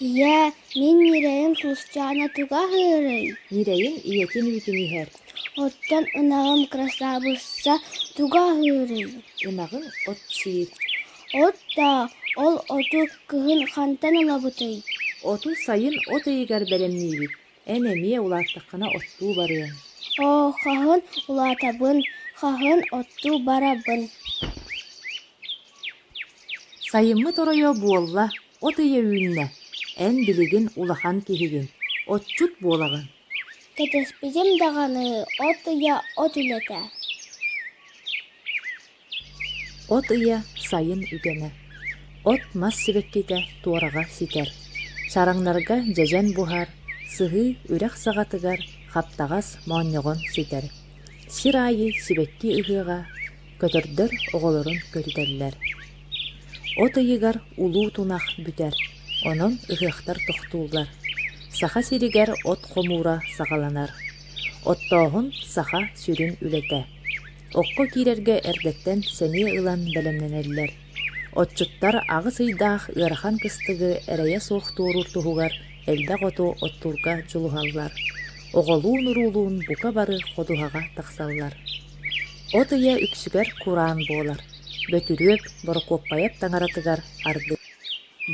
Ийээ, мин ньирэйим Тусчаана туга аһыырый? Ньирэйим ийэтин үүтүн иһэр. Оттон ынаҕым Красавыца туга аһыырый? Ынаҕын от сиир. Оттоо, ол оту кыһын хантан ылабытый? Оту сайын от ыйыгар бэлэмниибит. Эн эмиэ улааттаххына оттуу барыаҥ. Оо, хаһан улаатабын, хаһан оттуу барабын. Сайыммыт оройо буолла, от ыйа үүннэ, эн билигин улахан киһигин, отчут буолаҕын. Кэтэспитим даҕаны, от ыйа от үлэтэ. От ыйа сайын үгэнэ. От мас сибэккитэ туораҕа ситэр. Чараҥнарга дьэдьэн буһар, сыһыы үрэх саҕатыгар хаптаҕас моонньоҕон ситэр. Сир аайы сибэкки ыһыаҕа, көтөрдөр оҕолорун көтүтэллэр. От ыйыгар улуу тунах бүтэр, онон ыһыахтар тохтууллар. Саха сиригэр от хомуура саҕаланар. Оттооһун саха сүрүн үлэтэ. окко киирэргэ эрдэттэн сэниэ ылан бэлэмнэнэллэр. Отчуттар аҕыс ыйдаах ыарахан кыстыгы эрэйэ суох туоруур туһугар элбэх оту оттуурга дьулуһаллар. Оҕолуун-уруулуун бука бары ходуһаҕа тахсаллар. От ыйа үксүгэр кураан буолар. Бөтүрүөп, борокуоппайап таҥаратыгар арды.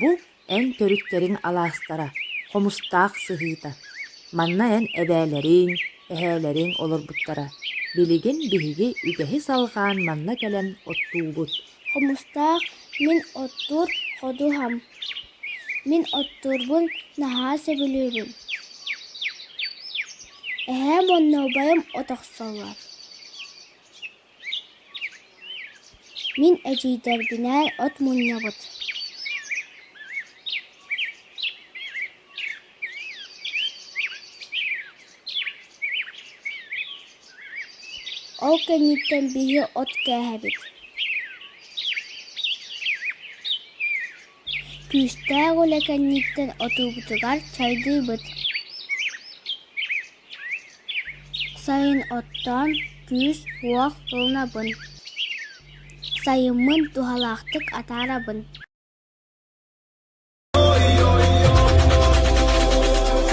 Бу эн төрүттэриҥ алаастара, хомустаах сыһыыта. Манна эн эбээлэриҥ, эһээлэриҥ олорбуттара. Билигин биһиги үгэһи салҕаан манна кэлэн оттуубут. Хомустаах мин оттуур ходуһам. Мин оттуурбун наһаа сөбүлүүбүн. Эһээм уонна убайым от охсоллор. Мин эдьиийдэрбинээн от мунньабыт Ол кэнниттэн биһи от кээһэбит Күүстээх үлэ кэнниттэн отуубутугар чайдыыбыт Сайын оттоон, күүс-уох ылынабын. Сайыммын туһалаахтык атаарабын.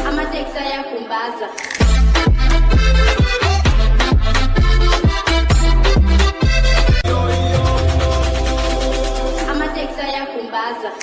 Amatexaya com base. Amatexaya com base.